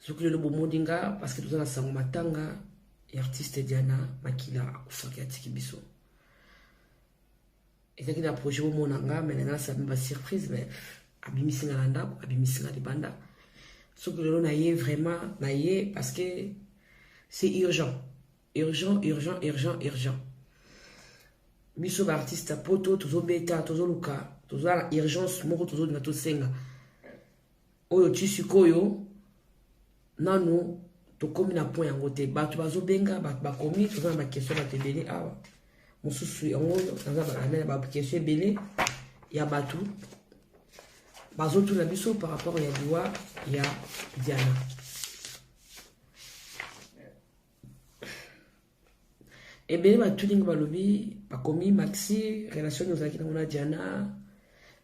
soki lelo bomoni nga parce que toza na sango matanga ya artiste diana makila akufaki atiki biso ezalaki na projet bomona nga me nanga nasabi basurprise me abimisi nga na ndako abimisi nga libanda soki lelo na ye vraiment na ye parce que c'est urgent urgent urgent urgent urgent biso baartiste ya poto tozobeta tozoluka toza na urgence moko tozodina tosenga Oyo ti sikoyo nanu tokomi na point yango te bato bazobenga bato bakomi toza na bakestion bato ebele awa mosusu yango naza balamela bakestion ebele ya bato bazotuna biso par rapport ya liwa ya diana ebele batuni nga balobi bakomi maxi relation ozalaki nango na diana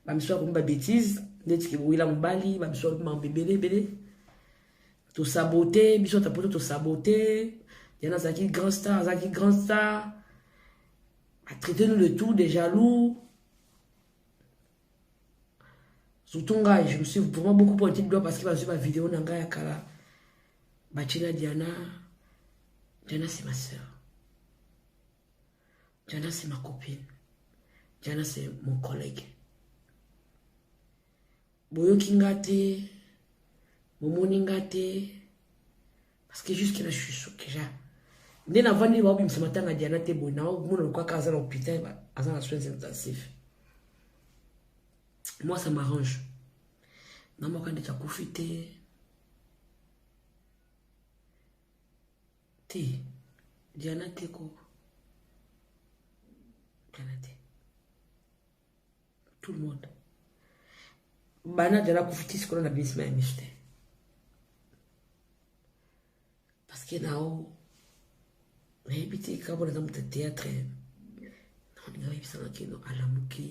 bamisusu bakomi babétise neti kewila mobali bamisusu balobi mambo ebele ebele tosabote biso ata poto tosabote diana azalaki grand star azalaki grand star atraite nous le tout de jaloux surtout ngai je me suis vraiment beaucoup pointé du doigt parce que bazwi bavideo na ngai ya kala batyela diana diana c'est ma sœur diana c'est ma copine diana c'est mon collègue boyoki nga te bomoni nga te parce que jusque là je suis choqué ja nde navandi baobimisa matanga diana te boye naomona lokaka aza na hôpital aza na soins intensifs moi ça m'arrange na moko andeki akufi te te diana te ko diana te tout le monde bana jala kufiti sikolo na binisima ya misu te parce que nao nayebi te kaka mpona eza moto ya théâtre naoninga oyebisanga kino alamuki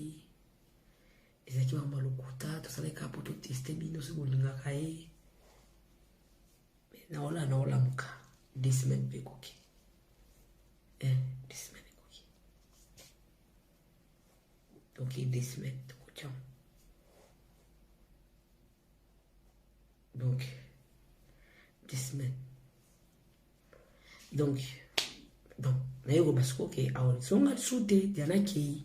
ezalaki bango balokuta tosalaki kaka mpo toteste bino soki bolingaka ye naola naolamuka desemaine mpe ekoki eh, desemaine Donc il deux semaines de coaching. Donc, deux semaines. Donc, donc, naye koba sikoyo ke awa zonga lisusu te diana akei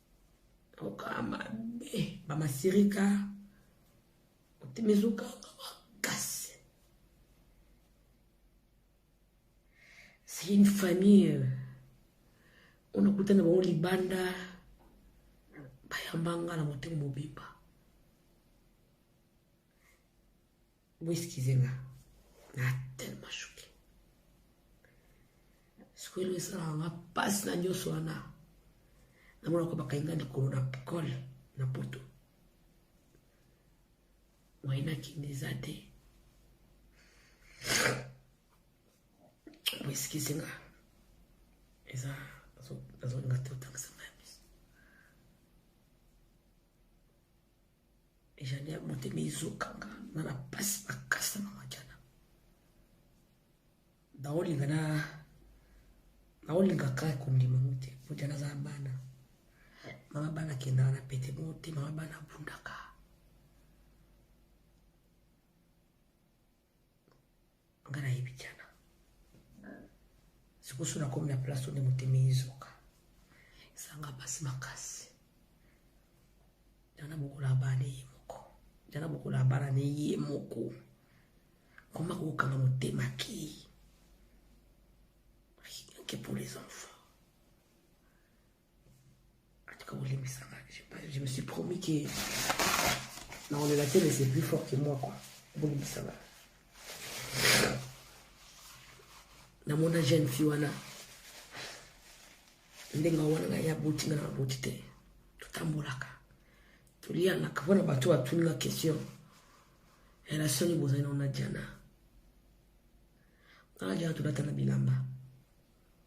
okaa mabe bamasirika otimi ezokanga makasi c'est une famille oyo nakuta na bango libanda bayamba nga na motema mobimba Bo excusez nga. Na tellement choqué. Sikoyo eloko esalaka nga mpasi na nyonso wana. Namonaka bakangi nga likolo na kole na poto. Moye nakende eza te. Bo excusez nga. Eza nazolinga te otangisa nga. Ejania motema ezokanga na na pasi makasi na makiana naolinga na naolinga kaka kondima ngo te mojana aza bana mama bana kendaka na pete moko te mama bana abundaka nga nayebi diana sikoso nakomi na place onde motema ezoka esanga mpasi makasi diana bokola bana ye moko diana bokola bana ne ye moko koma kokanga motema ki rien que pour les enfants je me suis promis que non, le latin c'est plus fort que moi quoi bolimbisa nga namona jeune fille wana ndenge wana ngai aboti nga na aboti te totambolaka toliyanaka mpo na bato batuni nga question relation nini bozali nao na diana nga na diana tolata na bilamba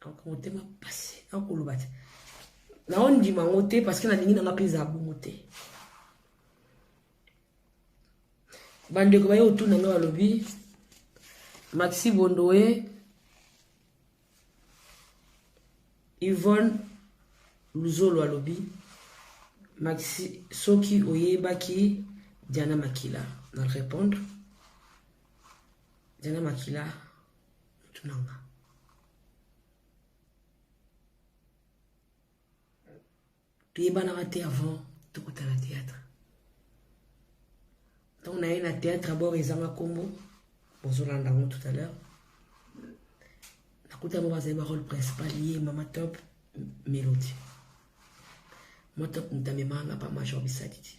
Ako motema pasi, ako loba te. Na on dit mango te parce que na lingi na nga peza bongo te. Bande ko baye autour na nga lobi. Maxi Bondoe. Yvonne Luzolo alobi. Maxi soki oyebaki Diana Makila na répondre. Diana Makila mutu na nga toyebanaka te avant tokotala théâtre ntango naye na théâtre abord ezanga nkombo bozolanda yango tout à l'heure nakuta yango bazali barole principal ye mama top mélodie motop mutu amemanga pa major bisadidi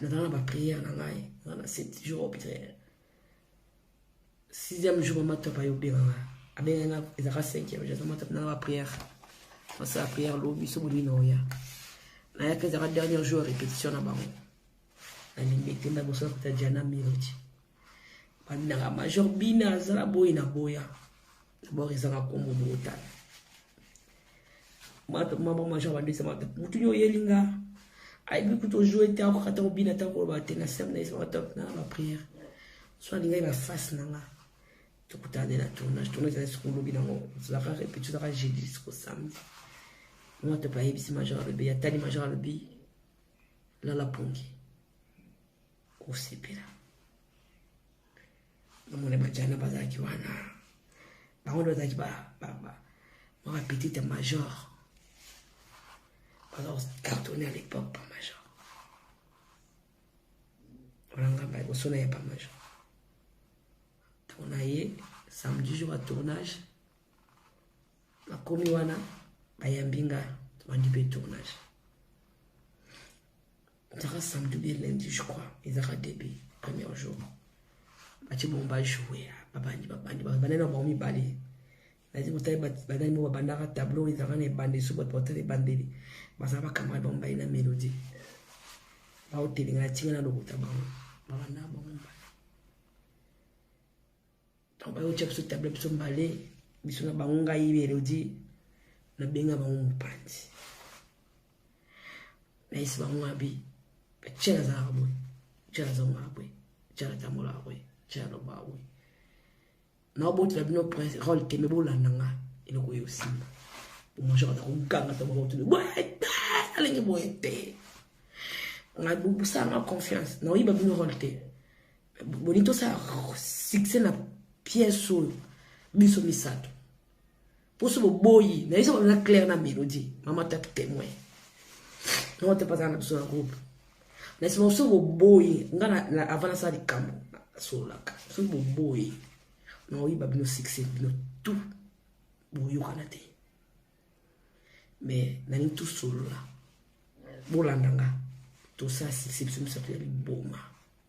naza na bapriere na ngai naza na sept jour au priere sixième jour mama top aye obenga ngai abenga nga ezalaka cinquième jour mama top naza bapriere nasala priere lobi so bolingi na oya nayaka ezalaka dernier jour ya répétition na bango nalingi ete na boso nakuta diana melodi babinaka major bina azala boyi na boya D'abord ezaka kombo botala. Mata mama majo bandisa mata mutu nyo yelinga. Ayebi kutu ojouer te akoka ta kobina ta koloba te na sema na ye mata na ba prière. So alingai ba face na nga. Tokutana nde na tournage. Tournage ezali soko lobi nango. Tozalaka répétition ezalaka jeudi soko samedi. Mwa tope ayebisi major alobi atali major alobi lala pongi. Osepela. namona bajana bazalaki wana bango nde bazalaki mwa bapetite major baza kocartone à l'époque pa major wana ngai ba liboso na ye pa major ntango na ye samedi jour ya tournage nakomi wana bayambi ngai tobandi mpe tournage ezaka samedi bien lundi je crois ezaka debe premier jour batie bongo bajoue babandi babandi babandani na bango mibale nazi kotali bandani moko babandaka tableau ezalaka na ebande so bato batala ebandeli bazala bakamara bango baye na melodi baotelinga na ntinga na lokuta bango babandaka bango mibale ntango bayotia biso table biso mbale biso na bango ngai elodi nabenga bango mopanzi nayesi bango abi cela azalaka boye cela azongaka boye cela atambolaka boye cela alobaka boye naobotela bino prince role te me bolanda nga eloko oyo osimba omajor aza koganga ntango baotuni boye te alingi boye te ngai bobusanga confiance naoyiba bino role te boni tosala succès na pièce oyo biso misato poso boboyi nayesa bana na claire na melodie mama tatu témoin mama tatu azala na biso na groupe nayesa bana soki boboyi nga avant nasala likambo nasololaka soki boboyi naoyeba bino succès bino tout boyokana te mais nalingi tosolola bolanda nga tosala succès biso misato ya liboma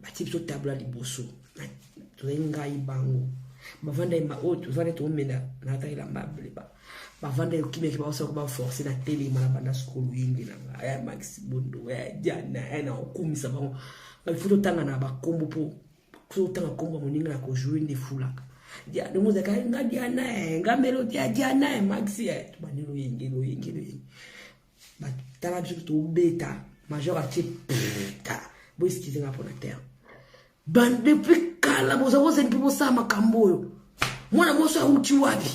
batie biso tabla liboso tozali ngai bango bavandaki oyo tozali toomela naataki lamba bleba bavandaki okimaki baosaka baforce na telema na banda sukulu yenge na ngai ya maxi bondo ya jana ya na okumisa bango bafo totanga na bakombo mpo soki otanga nkombo ya moninga na kojoue nde efulaka yango ozalaka nga diana nga melodi ya diana maxi tobandi loyenge loyenge loyenge tala biso tobeta major atie tala boeskize nga mpona terre depuis kala boza bozali mpe bosala makambo oyo mwana moso awuti wapi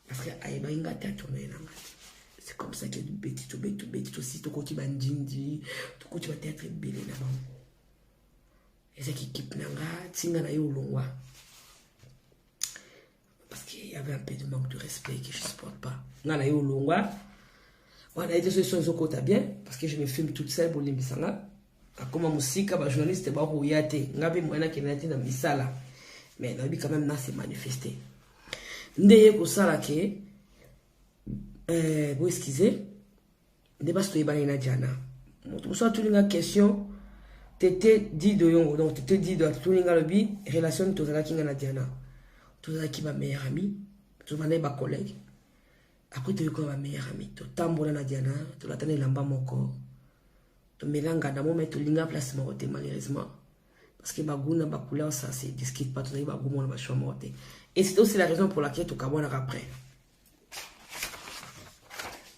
parce que ayebaki nga te atourne na nga te c'est comme ça que tobeti tobeti tobeti tosi tokoti bandindi tokoti bateatre ebele na bango ezaki kipe na nga ntinga na ye olongwa Parce qu'il y avait un peu de manque de respect que je ne supporte pas. Nga na yo longwa. Wana ete solution ezo kota bien parce que je me filme toute seule bolimbisa nga. Akoma musika ba journaliste ba koya te. Nga be mwana kenda te na misala. Mais na bi quand même na se manifester. Nde ye kosala ke euh, bo excusez nde basi toyebanaki na jana moto mosusu atuni nga question tete dido yongo donc tete dido atuni nga alobi relation nini tozalaki nga na jana tozalaki ba meilleur ami tozalaki ba collègue après toyekola ba meilleur ami totambola na jana tolatana elamba moko tomelanga na moma tolinga place moko te malheureusement parce que bagout na bacouleur ça se discute pas tozalaki bagout mona bachoix moko te et c'est aussi la raison pour laquelle tokabwanaka après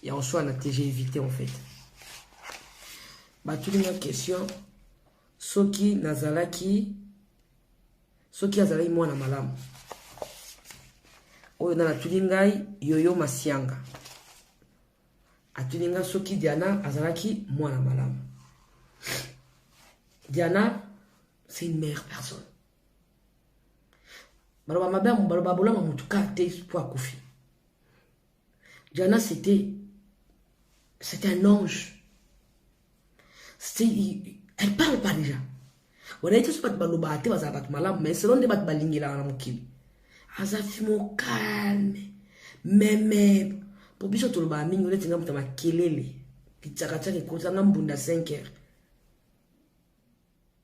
ya oswana te j'ai évité en fait batuni nga question soki nazalaki soki azalaki mwana malamu oyo na natuni ngai yoyo masianga atuni ngai soki diana azalaki mwana malamu diana c'est une meilleure personne baloba mabe baloba bolama motu kar te mpo akufi jana c'était c'est un ange elle parle pas déjà wana ete so bato balobaka te bazala bato malamu mais selon nde bato balingelaka na mokili aza fimo calme meme mpo biso tolobaka mingi neti nga moto ya makelele lityakatyaka ekotanga mbunda 5 heures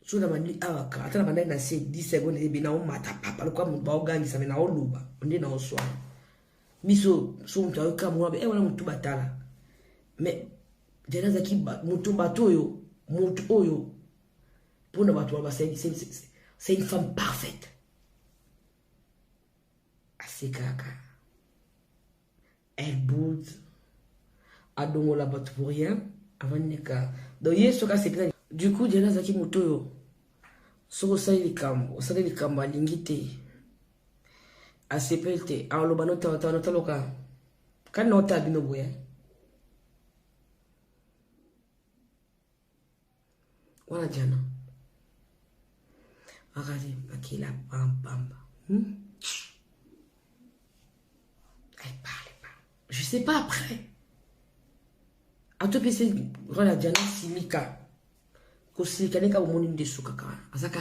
so nabandi awa kaka ata nabandaki na se 10 seconde eyebi naomata papa lokola moto baogangisa me naoloba nde naoswana biso so moto ayoka mwa e eh, wana motu batala me jana azalaki moto bato oyo moto oyo mpona bato wana basali c'est une femme parfaite asekaka eh but adongola bato pour rien avandi kaka donc ye soki asepela du coup diana azalaki moto oyo soki osali likambo osali likambo alingi te asepeli te aloba notawanotaloka kani naotala bino boye wana jana akati makila pampamba hmm? elle parle pas je sais pas après atopesi wana jana silika kosilika nde kaka omoni nde esukaka wana azaka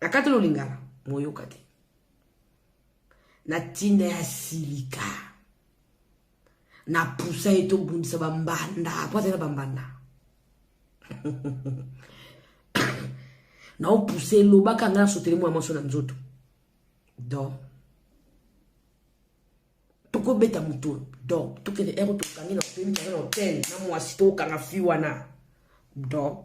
nakatelo lingala moyoka te na ntina ya silika na pusa ye tobundisa bambanda mpo azali na bambanda naopusa elobaka ngai nasotele mwa maso na nzoto don tokobeta moto don tokende ero tokangi na opemi kanga na hotel na mwasi tokokanga fi wana don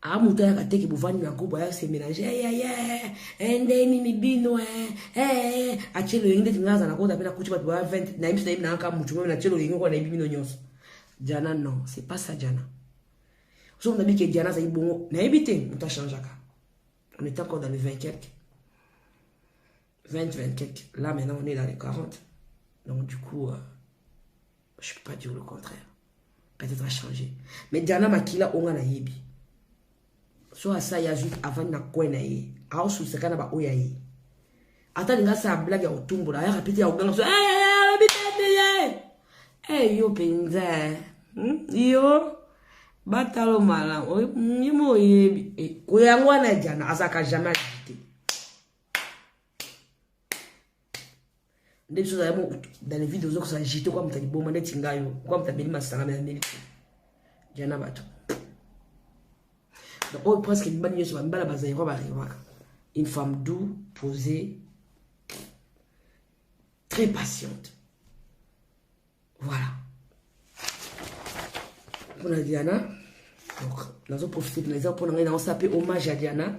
a ah, moto ayaka teke bovandi na groupe aya se mélange eyeye eh, eh, eh, nde nini bino ee atie loyenge ndeti nga aza na kota mpe nakuti bato baya 20 nayebi biso nayebi nayaka motu meme natie loyenge kona nayebi bino nyonso diana non c'est pas ça diana soki nabi ke diana azali bongo nayebi te moto achangeaka on est encore dans le 20 quelque 20, 20 quelques. Là, maintenant, on est dans les 40. Donc, du coup, euh, je ne peux pas dire le contraire. Peut-être à changer. Mais Diana Makila, on a yebi. So asa ya juste avant na coin na ye. Ao sous ce canaba oya ye. Ata linga sa blague ya otumbo la. Ya rapide ya oganga. Eh, eh, eh, eh, eh, yo penza. Hmm? Yo. Batalo malam. Oye, mo yebi. Eh, koyangwa na Diana. Azaka jamais. nde biso ozali dans les videos ozokosa jete kwa moto liboma neti ngai yo kwa moto ameli masanga mela meli te ja na bato donc oyo presque mibali nyonso bamibala bazairwa barewaka une femme doux posée très patiente voilà mpona diana donc nazoprofite mpenza mpo na ngai naosa mpe hommage ya diana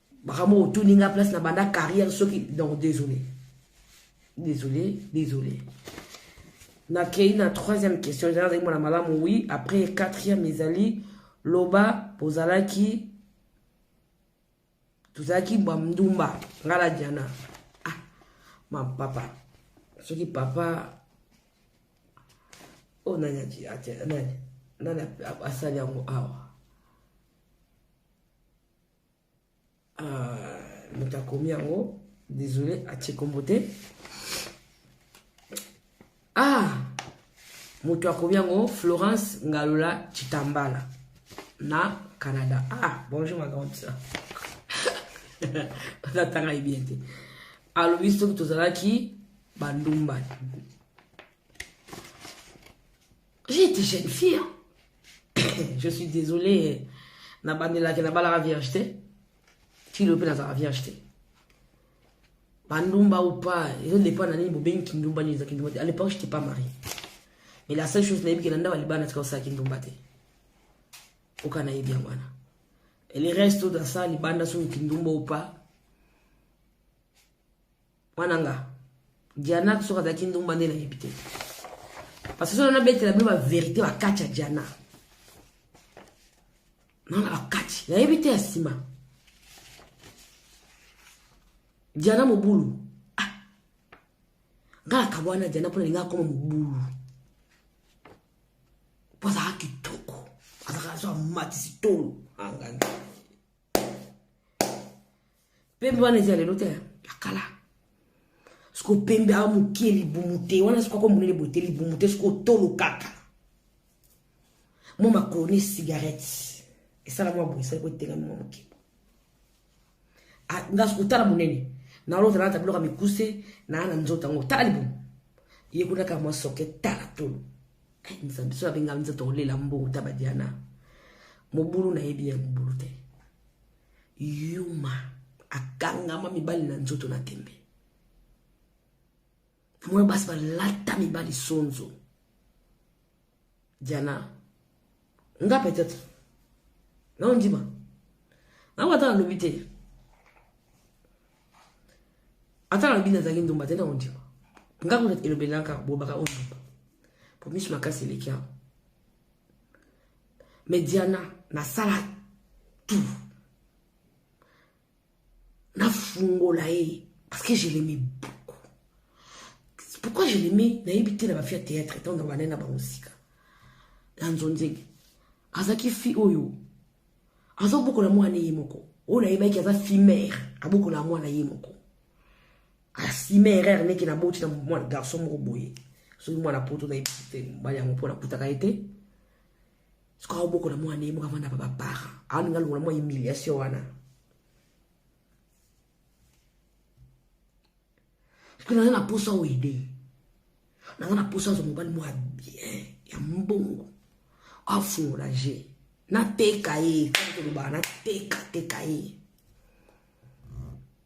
makambo otuni nga place na banda carrière soki donc désolé désolé désolé nakei na troisième question eza nazali mwana malamu oui après quatrième ezali loba ozalaki tozalaki bwa ndumba nga la diana ah ma papa soki papa oyo oh, nani nani asali yango awa Ah, moto akomi yango désolé atie kombo te ah moto akomi yango florence ngalola chitambala na canada ah bonjour ma grande sœur azatanga ye bien te alobi soki tozalaki bandumba J'étais jeune fille. Je suis désolé. Na bandela ke na bala vierge te. Ti lope na za vierge te. Bandumba ou pas, ils ont dépend na nini bobengi kindumba ni za kindumba. À l'époque, j'étais pas mariée. Mais la seule chose na yebiki na ndawa libana tika sa kindumba te. Oka na yebi yango wana. Et les restes dans ça libanda sur kindumba ou pas. mwana nga diana soki azalaki ndumba nde nayebi te parce que soki nabetela bino baverité bakati ya diana nana bakati nayebi te ya nsima diana mobulu ah. nga nakabwana diana mpo nalinga akoma mobulu mpo azalaka kitoko azalaka so amatisi tolo angani ah, pembe wana eza lelo te ya kala siko pembe awa mokie libumu te wana siko ako monene boye te libumu te siko tolo kaka mwa makoloni cigarette esala mwa boye esali kotelami mwa mokie nga siko tala monene naolota nalata biloko ya mikuse naa na nzoto yango tala libumu ye kuna kaka mwa soke tala tolo nzambe so abenga nzoto olela mbongo tabadiana mobulu nayebi ya mobulu te yuma akangama mibali na nzoto na tembe moyo basi balata mibali sonzo diana nga peut-être naondima nango ata nalobi te ata nalobi nazalaki ndumba te naondima nga kuna elobelaka bolobaka ondumba po miso makasi eleki yango Mais Diana, nasala tout. Nafungola ye. Parce que je l'aimais beaucoup. Pourquoi je l'aimais Nayebi te na ba fille théâtre etant na bana na bango sika. Na nzonzenge. Azaki fille oyo. Azo bokola mwana ye moko. Oyo nayebaki aza fille mère. Abokola mwana ye moko. asime erreur ndeke naboti na mwana garçon moko boye soki mwana poto na mobali yango mpo nakutaka ye te soki aobokola mwana ye moko avanda pa bapara aolinga longola mwa humiliation wana soki naza na mposa oede naza na mposa azwa mobali mwa bien ya mbongo afungola je nateka ye koloba nateka teka ye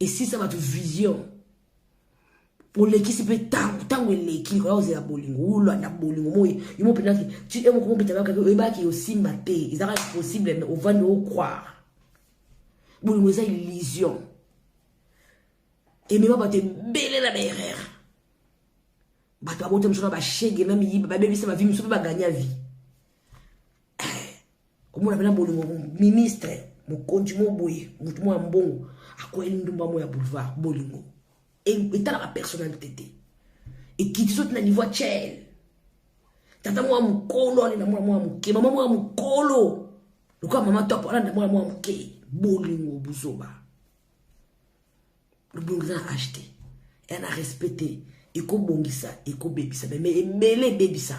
esisa bato vision olekisi mpe ntango ntango eleki oya ozela bolingo olanda bolingo moi yo mo mpenza ti e moko mopetalaka oyebaki osimba te ezaka impossible me ovandi ocroire bolingo eza illusion emema bato ebele na baerrere bato babota miso na bashege na miyiba babebisa bavi miso mpe baganya vie komona mpena bolingo ministre mokonzi mo boye motu mo ya mbongo akweli ndumba mo ya boulevard bolingo etalaka personnalité te ekiti so tina niveau ya chel tata mwa mokolo alenda mwana mwa moke mama mwa mokolo lokola mama top alanda mwana mwa moke bolingo buzoba bolingo eza na achte eza na respect te ekobongisa ekobebisa meme ebele ebebisa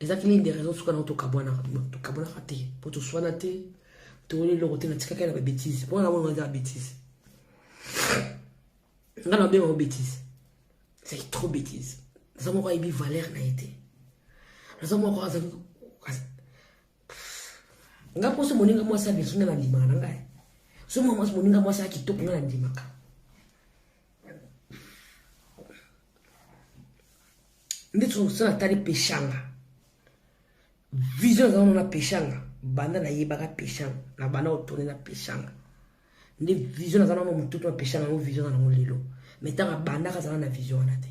eza ki ligne de raison suka nango tokabwanaka tokabwanaka te mpo toswana te toyoli eloko te natikaki na babétise mpo wana bongo eza babétise nga na babenga ngo bétise ezalaki trop bétise naza moko ayebi valeur na ye te naza moko azali nga mposo moninga mwasi ya biso nga na ndimaka na ngai so mwa mwasi moninga mwasi ya kitoko nga na ndimaka nde tosala tali peshanga vision ezalano na peshanga banda nayebaka peshanga na banda otone na peshanga nde vision naza nano motutu na peshanga yango vision na nango lelo mai ntango abandaka azala na vision wana te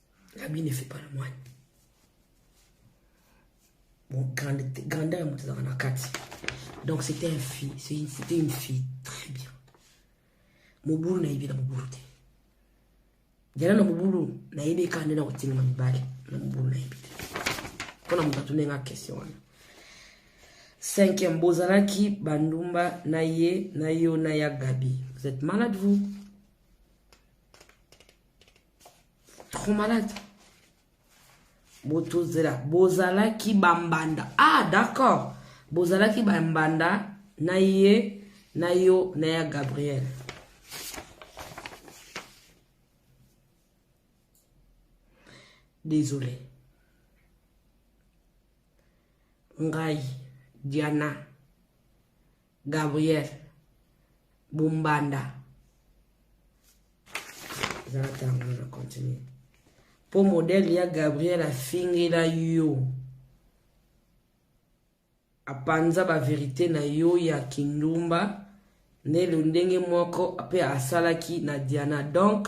L'habit ne fait pas le moine. Bon, grande, grandeur ya moto ezalaka na kati. Donc c'était un fille, c'était une fille très bien. Mobulu nayebi na mobulu te. Jana na mobulu nayebi kaka nde na kotingama mibale na mobulu nayebi te. Mpo na moto atuni nga question wana. Cinquième, bozalaki bandumba na ye na yo na ya Gabi. Vous êtes malade vous? trop malade botozela bozalaki bambanda ah d'accord bozalaki bambanda na ye na yo na ya gabriel désolé ngai diana Gabriel Bombanda zala ntango na continue mpo modele ya gabriel afingela yo apanza baverite na yo ya kindumba nde lo ndenge moko mpe asalaki na diana donc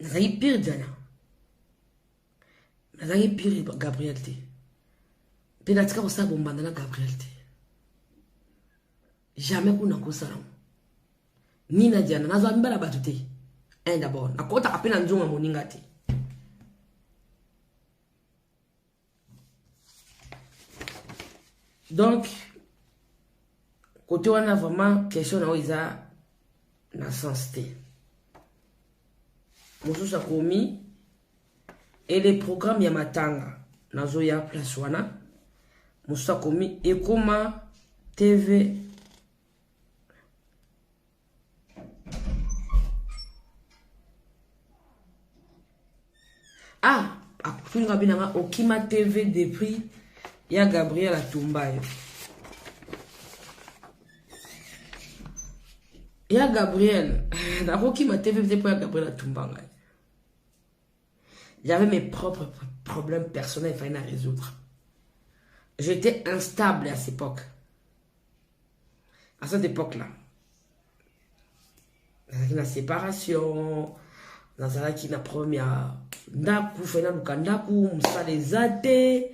nazalaki pire diana nazalaki pire gabriel te mpe natika kosala bombanda na gabriel te jamais kuna kosalango ni na diana nazwa mibala bato te un d'abord nakotaka mpe na nzonga moninga te donc kote wana vraiment question na yo eza na sens te mosusu akomi ele programme ya matanga nazoya place wana mosusu akomi ekoma tv ah akutunga binanga okima tv depuis ya gabriel atumba yo ya gabriel nakokima te mpe mpo ya gabriel atumba ngai j'avais mes propres problèmes personnels fai na résoudre j'étais instable à cette époque à cette époque là nazalaki na séparation nazalaki na problème ya ndako fai naluka ndako mosala eza te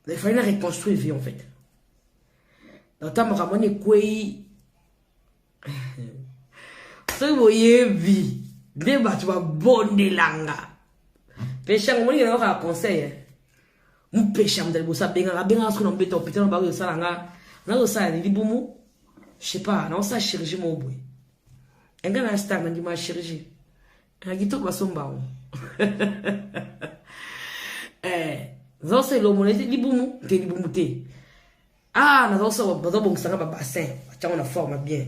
il fallait na reconstruire vie en fait dans ntango makambo wana ekwei soki boyebi nde bato babondelanga pesha yango moninga nayoka ya conseil eh. mopesha moto liboso abengaka abengaka soki na mobeta hôpital na bako osala nga nazosala ni libumu je sais pas naosala chirurgie moko boye enga na star nandima ya chirurgie na kitoko basomba yango eh, nzosela omona libumu te libumu te ah nazabongisa nga babassin batyango na forme bien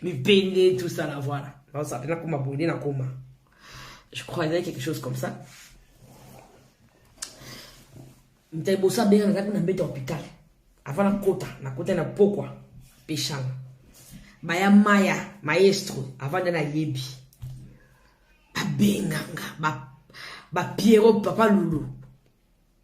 mipende tout ça la voilà nazala nakoma boye nde nakoma je crois ezali quelque chose comme ça mta liboso abenga nazalaki na mbeto hopital avant nakota nakota na pokwa peshanga baya maya maestro avant nde nayebi babenganga bapiero ba papa lulu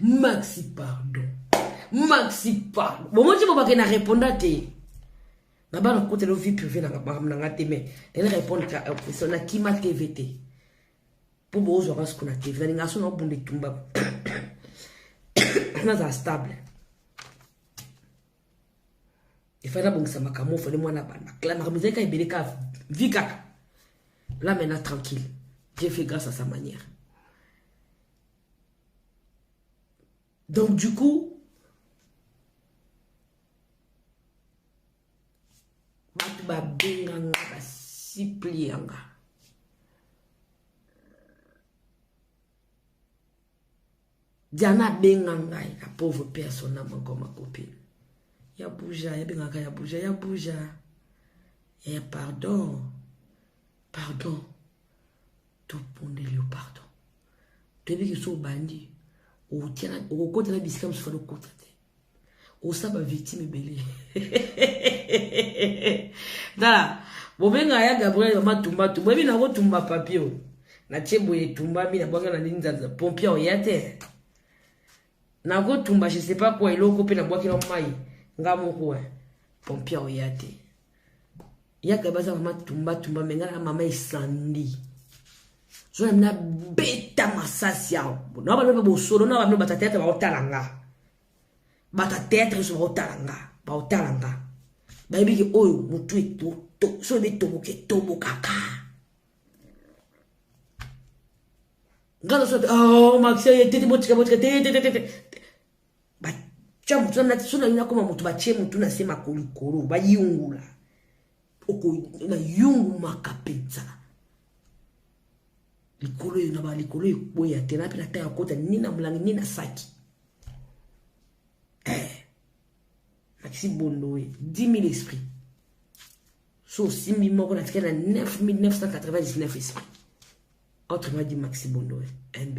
maxi pardon maxi pardon bomoni ti bobake na reponda te na bana kotela vie privé na makambo na nga te mais nene répondre ka question na kima tv te mpo bozwaka siko na tv nalinga so naobunda etumba nazala stable efai nabongisa makambo ofani mwana banda kla makambo ezali kaka ebele kaka vi kaka la maintenant tranquille dieu fait grâce à sa manière donc du coup bato babenganga basiplianga Diana abenga ngai na pauvre père son âme encore ma copine. Ya bouja, ya bengaka ya bouja, ya bouja. Eh pardon. Pardon. To pondeli yo pardon. Toyebi ke so obandi okokota na bisika mosusu fana okota te. osa ba victime ebele tala bobenga ya gabriel mama tumba tu boyebi nango tumba papio natie boye etumbami na bwanga na nini nzanza pompia oya te nakotumba je sais pas kua eloko mpe nabwakela mai nga moko eh. pompia oya te yaka baza mama tumba tumba me ngai na mama esandi zona mina beta masasi awa na baloba bosolo na bamino bata teatre baotala nga bata teatre nyonso baotala nga baotala nga bayebi ke oyo motu so ebi etoboka etobokaka nga naso te oh, maxi ye tete botika botika te te te te tya motu na so na yo nakoma motu batye motu na se makolikolo bayungula nayungumaka mpenza likolo eyo na balikolo ekweya te nape na tanga kota ni na molangi ni na saki eh, maxi bondoe 10 000 esprit so osimbi moko na tikala na 9999 esprit autrement dit maxi bondoe mb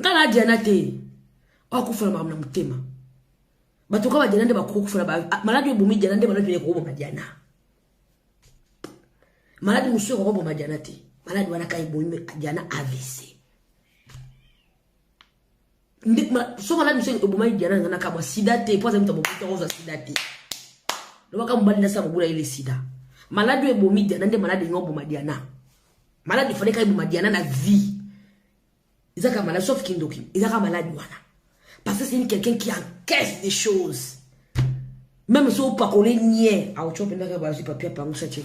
nga na diana te akufa na makambo na motema bato kaka badiana nde bakoki kufa na ah, maladi oyo ebomi diana nde maladi oyo ekokoboma diana maladi mosusu ekokoboma diana te maladi wana kaka ebomi diana avc nde ma soki alandi biso obomaki diana nanga nakamwa sida te mpo aza moto abomaki ozwa sida te lobaka mobali nasi akobula ye le sida maladi oyo ebomi diana nde maladi elingi oboma diana maladi efale kaka eboma diana na vie eza kaka maladi sauf kindoki eza kaka maladi wana parce que c'est une quelqu'un qui encaisse des choses même so opakole nie aotyo mpendaka bazwi papier apangusa tie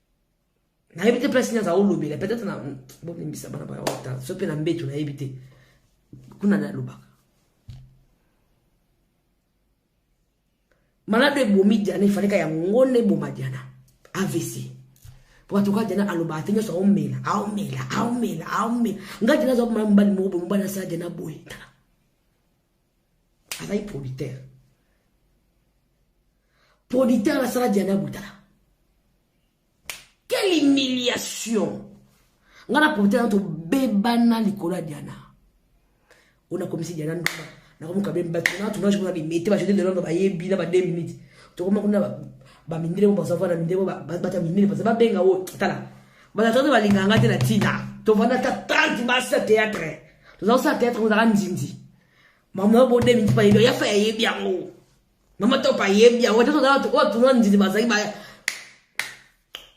nayebi te place nini aza olobela peut-être na bolimbisa bana baya wata so mpe na mbeto nayebi te kuna nde alobaka malado ebomi diana efaleka yango nde eboma diana avc mpo bato kaka diana alobaka te nyonso aomela aomela aomela aomela ngai diana aza komona mobali moko boye mobali asala diana boye tala azali producteur producteur nasala diana butala quelle humiliation ngai na producteur na tobebana likolo ya diana oyo nakomisi diana nduma nakomoka be bato na tournage kuna bimete bajete lelo na bayebi na ba 2 minutes tokoma kuna bamindele mo bazava na mindele bata mindele baza babenga oyo tala bato balinga ngai te na ntina tovanda ata 30 basa théâtre toza kosala teatre ozaka nzinzi mama obo 2022 ya fa yayebi yango mama top ayebi yango te toza bato oyo tunwa nzinzi bazali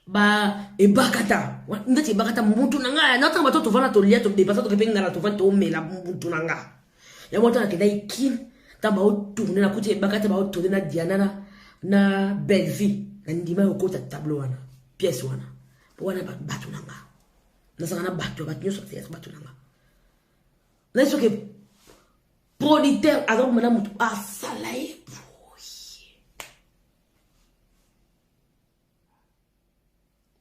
ba ebakata ndeti ebakata mutu na ngai natanga bato tovanda tolia todepasa tokepe ngala tovandi tomela mutu na ngai yango ata nakendaki kin ntango baotourne nakuti ebakata baotourne na diana na na bellevie na ndima yokota tableau wana pièce wana po wana bato na ngai nazala na bato ya bato nyonso azelaka bato na nga naye soki pronitere aza koma na motu asala ye boye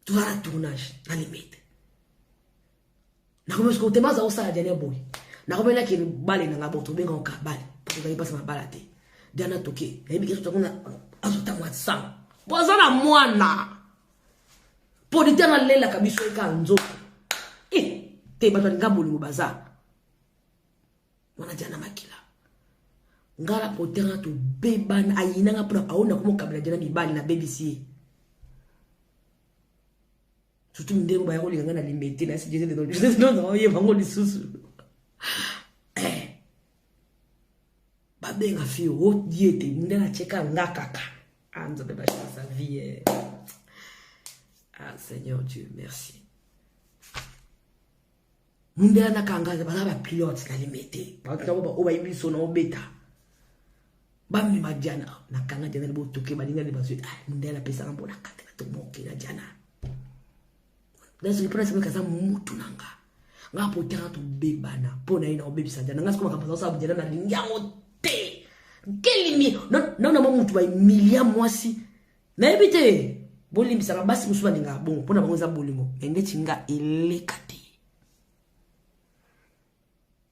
toza na tournage na limete nakomi soko tema aza kosala diane boye nakomi nake bale na nga boto obenga oka bale tozali mpasi mabala te diana toke nayebi keso tango azotamwa sango po aza na mwana polita nalelaka biso eka nzoto e eh, te bato alinga bolingo baza wana diana makila ngai na potera tobebana ayinanga mpona aona komokabela diana mibali nabebisi ye surtout ndenge baya kolinga ngai na limbe te nasi jeze oye bango lisusu eh. babenga fio otie te nde natyeka nga kaka Ah, Nzambe ba chance à vie. Eh. Ah, Seigneur Dieu, merci. Mundela na kanga baza ba pilote na limete. Ba tango ba oba yibi sona obeta. Ba mi ma diana na kanga diana bo toke ba linga ni ba zwe. Ah, mundela pesa na bona kata to moke na diana. nazwi mpo nasemeka aza mutu na nga nga mpo tanga tobebana mpo na ye na kobebisa jana nga siko makambo azosala bujana nalingi yango te nkelimi naona mwa mutu baemilia mwasi nayebi te bolimbisaka basi mosusu balingaka bongo mpo na bango eza bolingo me ndeti nga eleka te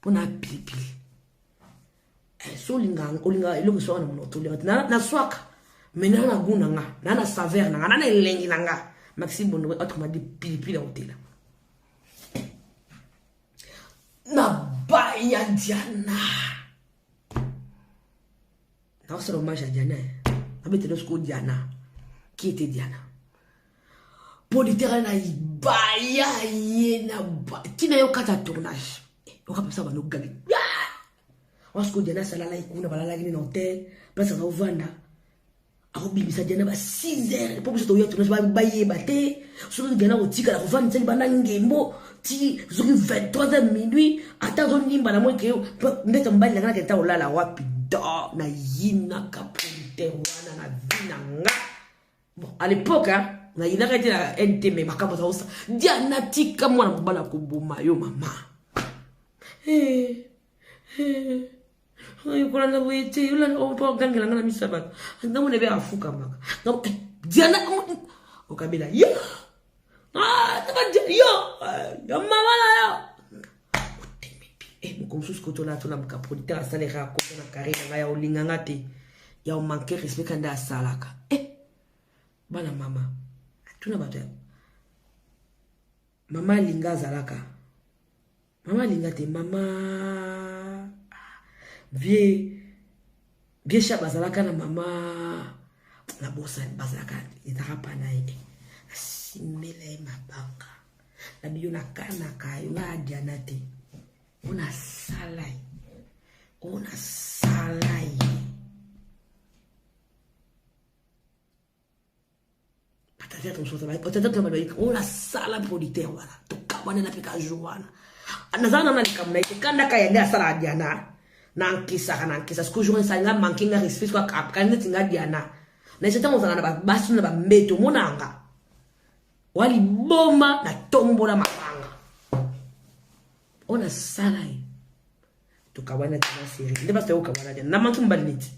mpo na pilipili eh, so olingaka olingaka eloko eswaka na monoto olingaka na, na swaka me na na goût na nga na na saveur na nga na na elengi na nga maxi bondowe autrement dit pilipili ya otela na baya diana nakosala hommage ya diana abetela soko diana qui était diana mpo litera na ibaya ye na ntina yo kata tournage eh, okapesa bando gabi ah! wasiko diana asalalaki kuna balalaki ne na hotel place aza ovanda akobimisa diana ba 6 heures mpo biso toya tournage bayeba te soki diana kotikala kofandisa libanda ngembo ti soki 23 heures minuit ata azonimba na moi ke ndeta mobali nanga nakende ta olala wapi do nayinaka politer wana na vi na nga bon à l'époque hein, nayinaka ete na nt me makambo azaosa diana tika mwana mobali akoboma yo mama hey, eh, eh. hey. kolanda boye te ogangela nga na miso ya bato namona ebe afukamaka eh, diana okabela yo ah, yo eh, yo mama na yo eh, moko mosusu kotola atona mokapolite asalaka akota na kare na ngai ya olinga nga te ya omanke respect kande asalaka bana mama atuna bato ya mama alinga azalaka Mama alinga te mama ah, vie vie sha bazalaka na mama na bosani bazalaka ezaka pa na ye asimela ye mabanga na biyo nakanaka yo nga adiana te ona sala ye ona sala ye batata mosusu batata tuna balobaki oyo nasala producteur wana tokabanela mpe ka jour wana nazala nana likambo na ye te kandaka ya nde asala diana nankisaka nankisa siko jour esali nga manke nga respect siko akapkani neti nga diana na ese ntango ozalaka na babasi na bambeto monanga wa liboma natombola mabanga oyo nasala ye tokabwana tina serie nde basi toyokabwana diana namanki mobali neti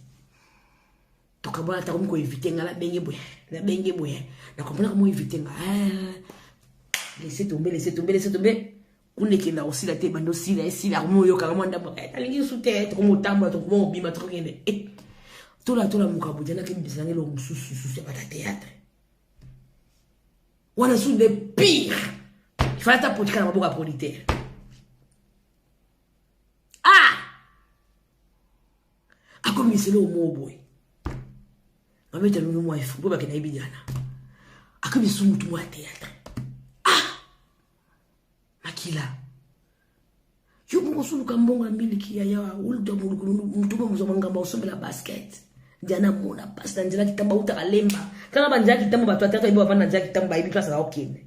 tokabwana ata komi koinvite nga na benge boye na benge boye na comprendre komo invite nga ah, laisse tombe laisse tombe laisse tombe kuna ekenda kosila te bando sila esila komo oyokaka mwa ndambo eh, nalingi lisusu te eh, tokomi otambola tokoma obima tokokende eh, tola tola mokabu janaki bisananga eloko mosusu lisusu ya bata théâtre wana susu nde pire ifala ata potika na maboko ya politaire akomi lisolo oyo moo boye mamete alongi mwa efo mpo bakenda ye bidiana akomi lisusu motu mwa théâtre ah makila yo moko osuluka mbongo ya miliki ya yawa oluta molukulu motu moko mozwa mangambo osombela basket diana mona mpasi na nzela kitambo autaka lemba tala banzela kitambo bato ya théâtre bayebi bavanda na nzela kitambo bayebi mpasi azakokende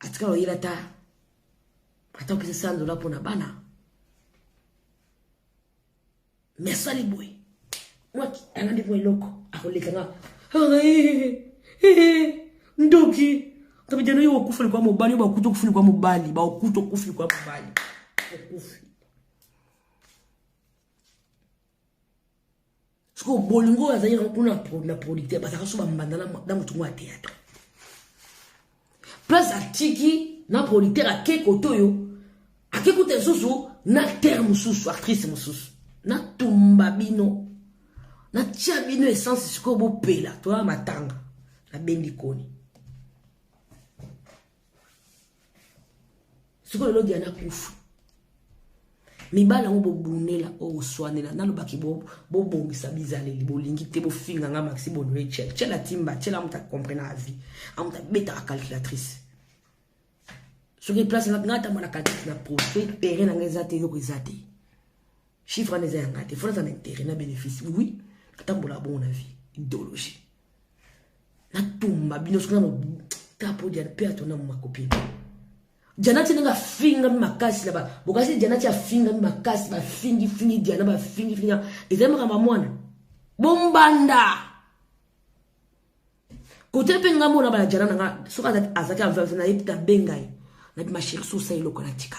atikala oyela ata ata opesa sando la mpo na bana me asali boye mwaki alandi mwa eloko akoleka nga ndoki kabidano yo okufa likwa mobali yo bakuti okufi likwa mobali bakuti okufi likwa mobali okufi sikoyo bolingo oyo azali yango kuna na producteur bazalaka so bambanda na motu ngo ya théâtre place atiki na producteur ake kote oyo ake kuta lisusu na acteur mosusu actrice mosusu natumba bino natya bino essence sikoyo bopela toya matanga nabendi koni sikoyo lelo diana kufu mibali yango bobunela oswanela nalobaki bobongisa bizaleli bolingi te bofinga nga maxi bonue cel cel atimba cel amuta comprena avi amuta betaka calculatrice soki place nga atambola calculatrice na prospect pere na nga eza te eloko eza te chiffre wana eza ya ngai te fona aza na intérêt na bénéfice oui atambola bongo na vie idéologie natumba bino soki nano tapo diana mpe atona makopini janati ndenge afingami makasi na bokasi janati afingami makasi bafingifingi diana bafingifingi ezali makambo ya mwana bombanda kote mpe ngambo na bana jana na nga soki azalaki aveuve na ye mpe abenga ye na bima sheri sosa eloko na tika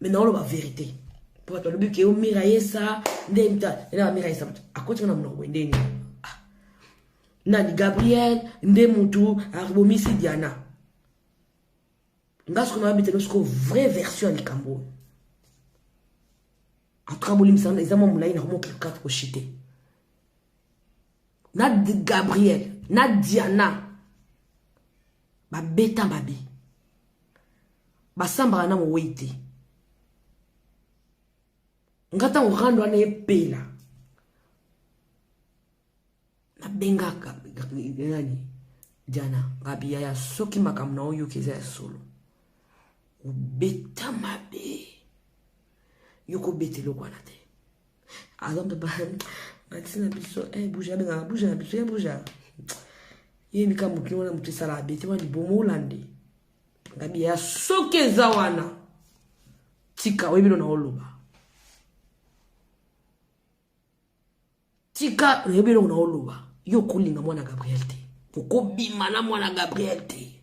me naoloba verité po bato balobi ke omira yesa nde mta ena bamira yesa bato akotika na monoko boye nde nini ah. nani gabriel nde motu abomisi diana nga soko nababi te soko vraie version ya likambo oyo antuka bolimbisana eza mwa molai na komoki kaka koshite na gabriel na diana babeta mabe basambaka na mowei te nga ntango rando wana epela nabengaka nani diana ngabiya ya soki makambo na oyoki eza ya solo obeta mabe yo kobeta eloko wana te azombe ba matisi na biso eh, buja abengaka buja na biso ye eh, buja ye mika mokili wana moto esala bete wana libomo olande ngabi ya soki eza wana tika oyebi lona oloba tika oyebi eloko na oloba yo okolinga mwana gabriel te okobima na mwana gabriel te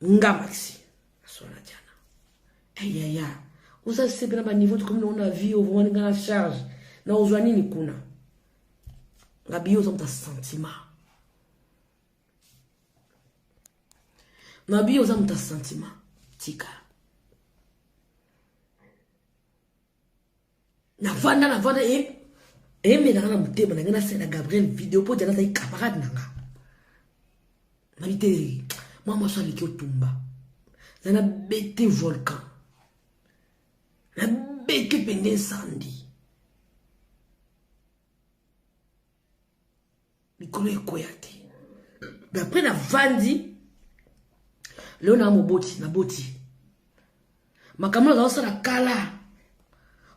nga maxi aswana diana ayaya oza sepe na baniveau tokomi nango na vie ovomani nga na charge na ozwa nini kuna nga biyo oza moto sentiment na biyo oza moto sentiment tika navanda navanda e emelaka na motema na ngai nasala gabriel video mpo jana azali camarade na nga nabi te mwa mwasi aleki otumba na nabete volcan nabete mpenza nsandi mikolo ekoya te mais après navandi leo naa moboti naboti makambo naza osala kala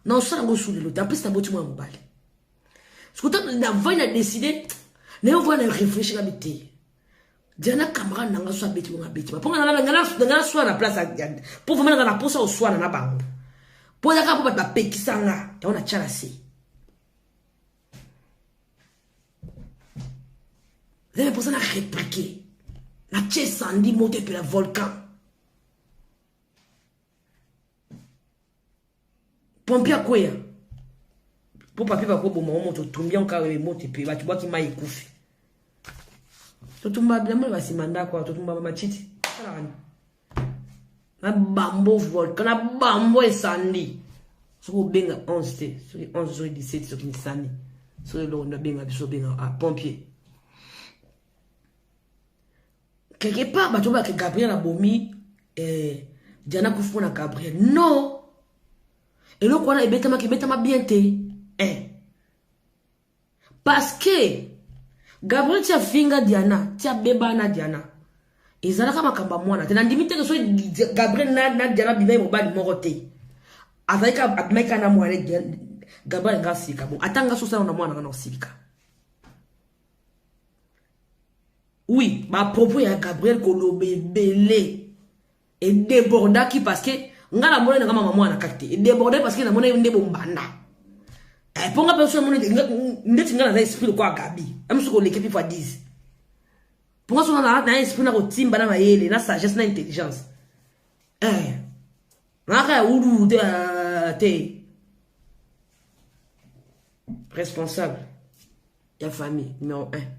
na osala yango osulelo te ampesi naboti mwana mobali sikuta navandi na deside naye ovaa na réfléchi na biteye diana camarade nanga so abeti bongo abeti mpo nga naswana na place mpo vraimen nanga na mposa oswana na bango mpo ezaka mpo bato bapekisa nga yango natya na se nde naposa na replique natie sandi moto epela volcan pompi akweya mpo papi bakoboma o moto otumbi yango kaka moto epe bato bwaki mai ekufi totumba bilamba na basima ndako totumba bamatiti salaka na bambo volcan na bambo esandi soki obenga 11 te soki 11 soki 17 soki misani soki eloko nde abenga biso obenga a pompier quelque part bato bake gabriel abomi eh, diana kufi mpo na gabriel non eloko wana ebetamaki ebetama bien te eh. parce que gabriel ti afinga diana ti abeba na diana ezalaka makambo ya mwana te nandimi teke so gabriel na, na diana abimaki mobali moko te azalaki abimaki kaka na mwana gabriel nga asilika bo ata nga sosala na mwana nga na osilika oui bapropos ya gabriel koloba ebele e debordaki parce que nga na mona na mama mwana kaki te e debordaki parce que na mona yo nde bombanda eh po nga pe so mona nde tinga na esprit ko agabi am so ko leke pipa 10 po nga so na na esprit na ko timba na mayele na sagesse na intelligence eh na ka ulu te euh, te responsable ya famille numéro 1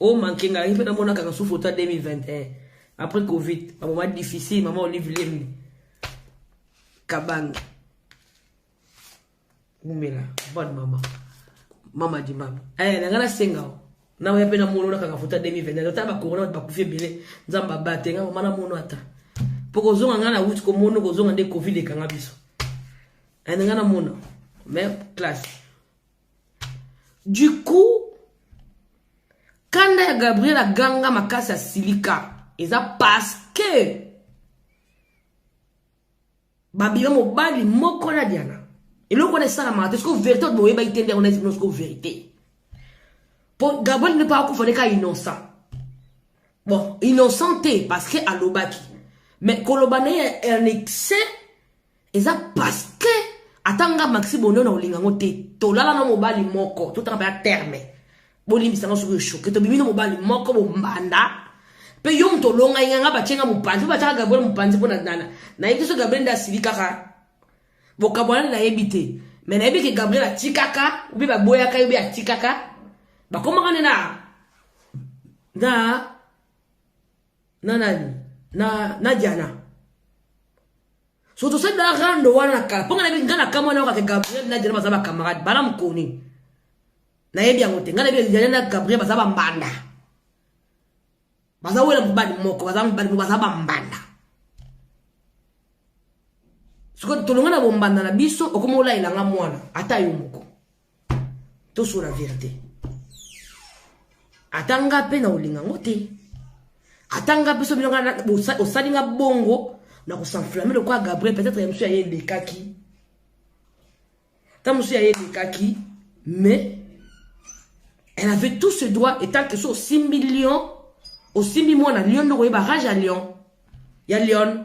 o manke ngai mpe namona kaka sufu ota 2021 après covid bamoma difficile mama olive lembe kabange wumela bonne mama mama di mama eh, nanga nasenga o naoya mpe namonona kaka fota 2021 ota bakorona bato bakufi ebele nzambe abate nga mama namono ata mpo kozonga ngai na wuti komono kozonga nde covid ekanga biso eh, nanga namona mais classe du coup kanda ya gabriel aganga makasi asilika eza paske babima mobali moko na diana eloko wana esalamaka te soko verité oyo boyebaki te nde yango nayebi bino soko verité mpo gabriel nde mpo akufa nde ka innocent bon innocent te parce que alobaki mais koloba na ye en excès eza paske ata nga maxi bonio na olinga ngo te tolala na mobali moko totanga mpe ya terme bolimbisa nga soki oshoke tobimi na mobali moko bombanda mpe yo moto olonga inga nga batye nga mopanzi mpo batyaka gabriel mopanzi mpo na nana nayebi te so gabriel nde asili kaka bokabwanani nayebi te me nayebi ke gabriel atikaka obi baboyaka ye obi atikaka bakomaka nde na na na nani na na diana soki tosali na rando wana na kala mpo nga nayebi nga na kamwa na yoka ke gabriel na diana baza bacamarade bana mokoni nayebi yango te nga nayebi diana na gabriel baza bambanda baza wela mobali moko baza mobali moko baza bambanda soki tolonga na bombanda na biso okomi olayelanga mwana ata yo moko tosola verite ata nga mpe na olinga yango te ata nga mpe so bino nga osali nga bongo na kosanflame lokola gabriel peut-être ya mosusu ya ye elekaki ta mosusu ya ye elekaki mais elle avait tout ce droit etant que so osimbi lion osimbi mwana lion nde okoyeba rage ya lion ya lion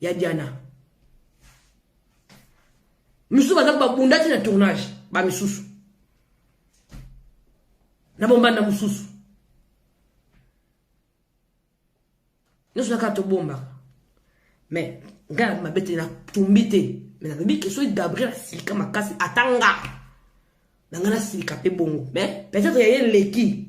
ya Diana misusu baza babundaki na tournage ba misusu na bombanda mosusu nyonso naka tobombaka me ngai na mabe te natumbi te me nalobi ke soki gabriel asilika makasi ata nga na ngai nasilika mpe bongo me peut-être yaye eleki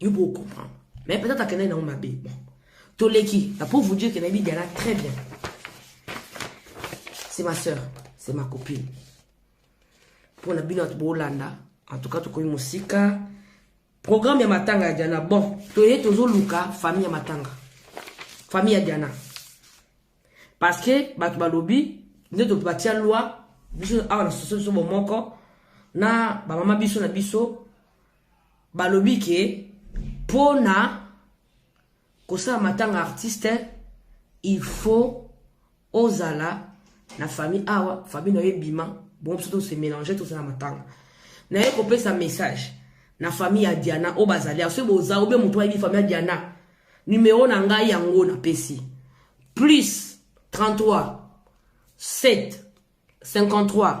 yo po comprendre mais peut-être akendaki nango mabe bon toleki na pour vous dire que nayebi diana très bien c'est ma soeur c'est ma copine mpo na bino bato bolanda en tout cas tokomi mosika programme ya matanga ya diana bon toye tozoluka famille ya matanga famille ya diana parce que bato balobi nde batia loi biso awa na soso biso bomoko na bamama biso na biso balobi ke mpo na kosala matanga artiste il faut ozala na famille awa famille na yo ebima bongo biso tose mélange tozala matanga naye kopesa message na famille ya diana oyo bazali awa soki boza obe moto ayebi famille ya diana numero na ngai yango napesi plus 33 7 53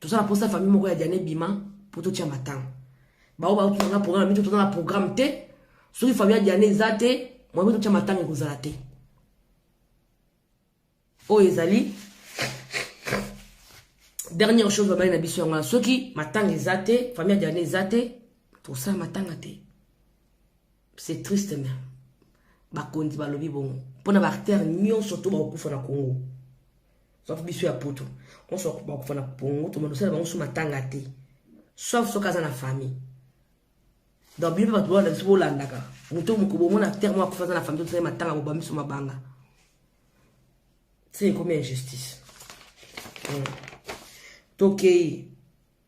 toza na posa famille moko ya diane bima mpo totya matanga baoyo baotuna nga programme mito toza na programme te soki famille ya diane eza te moyebe totya matanga ekozala te oyo ezali dernière chose babali na biso yango soki matanga eza te famille ya diane eza te tosala matanga te c'est triste mais bakonzi balobi bongo mpona baartere nyonso to bakokufa na congo sauf biso ya poto onso bakokufa na congo tomandosala bango so matanga te sauf soki aza na famille donc bino mpe bato bolanda biso bolandaka moto moko bomona acteur moko akufa aza na famille tosali matanga boba miso mabanga ti ekomi injustice hmm. tokei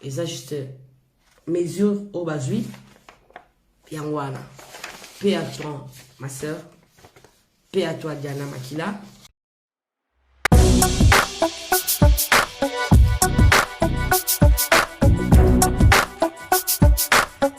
eza juste mesure oyo bazwi yango wana pe à toi ma sœur pe à toi diana makila